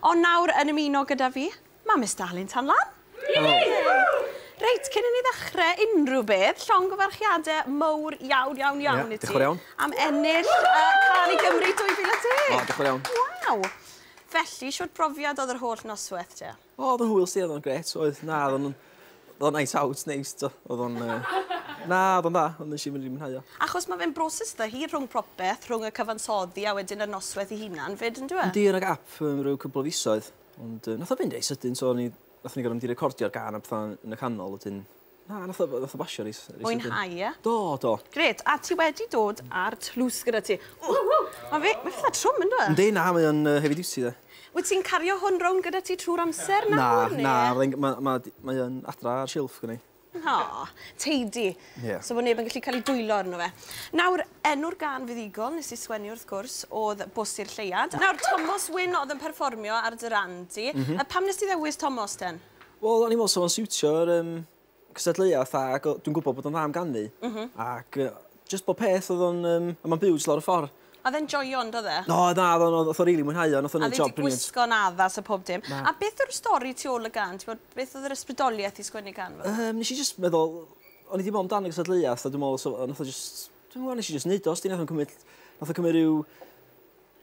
Ond nawr yn ymuno gyda fi, mae Miss Darlun Tan Lan! Helo! Reit, cyn i ni ddechrau unrhyw beth, llongyfarchiadau mowr iawn, iawn, iawn i ti... Ie, diolch yn fawr iawn. ...am ennill y Cân i Gymru 2010! O, diolch yn fawr iawn. Waw! Felly, shwt brofiad oedd yr holl noswaith te? O, oedd o'n hwyl 'sti, oedd o'n grêt, oedd. Na, oedden nhw'n... Oedd o'n night out, neis, do. Oedd o'n... Na, oedd o'n dda, ond nes i mynd i mwynhau o. Achos mae fe'n broses dda hir rhwng propeth, rhwng y cyfansoddi a wedyn y noswaith ei hunan 'fyd, yndyw e? Yndi, o' 'na gap yn ryw cwpl o fisoedd, ond nath o fynd reit sydyn, so o'n i... nathon ni gor'o' mynd i recordio'r gân a petha yn y canol wedyn. Na, nath o nath o basio reit sydyn. Mwynhau, ie? Do, do. Grêt, a ti wedi dod â'r tlws gyda ti. Ww! Ma' fe... Mae fatha trwm, yndyw e? Yndi, na, mae o'n heavy duty 'de. Wyt ti'n cario hwn rownd gyda ti trwy'r amser nawr, neu...? Na, na, fyddai'n... ma', ma', mae yn adra ar silff gynna i. O, tidy. Ie. So bod neb yn gallu cael ei dwyllo arno fe. Nawr, enw'r gân fuddugol nes i sgwennu wrth gwrs o'dd Bws i'r Lleuad. Nawr, Tomos Wyn o'dd yn perfformio ar dy ran di. M-hm. Yy pam nes ti ddewis Tomos ten? Wel, o'n i'n me'wl sa fo'n siwtio'r yym cystadleuaeth ac o- dwi'n gwybod bod o'n dda am ganu ac yy jyst bob peth o'dd o'n yym a ma'n byw jys lawr y ffor. A o'dd e'n joio on'd o'dd e? O na o'dd o'n o'dd o'th o rili mwynhau o nath o neud job brilliant. A o'dd 'i 'di gwisgo'n addas a pob dim. Na. A beth yw'r stori tu ôl y gan t'bod beth o'dd yr ysbrydolieth i sgwennu can fel 'a? Yym nesh i jyst meddwl o'n i 'di me'wl amdan y gystadleuath a dwi me'wl so- yy nath o jyst dwi'm yn gwbo nes i jyst neud o os 'di nath o'm cymyd nath o cymyd ryw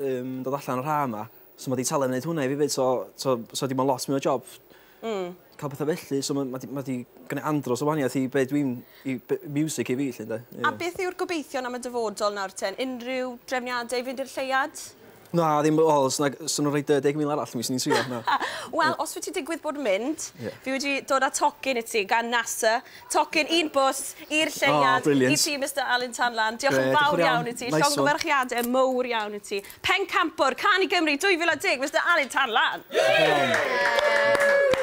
Yn dod allan o'r ha' 'ma. So ma' 'di talu am neud hwnna i fi 'fyd so t'o' so dim on' lot mwy o job. Hmm. Ca'l petha felly so ma' ma' 'di ma' 'di gwneu andros o waniath i be' dwi'n i be- miwsic i fi 'lly 'nde? Ie. A beth yw'r gobeithion am y dyfodol nawr ten? Unrhyw drefniade i fynd i'r lleuad? Na ddim o os nag os o'n nw'n roi dou deg mil arall mi swn i'n trio na. Wel os wyt ti digwydd bod yn mynd... Ie. ...fi wedi dod â tocyn i ti gan NASA Tocyn, un bws, i'r lleuad, i ti Mister Alun Tan Lan. Diolch yn fawr iawn i ti. Llongyfarchiadau mowr iawn i ti. Pencampwr, Can i Gymru 2010, Mister Alun Tan Lan. Woo!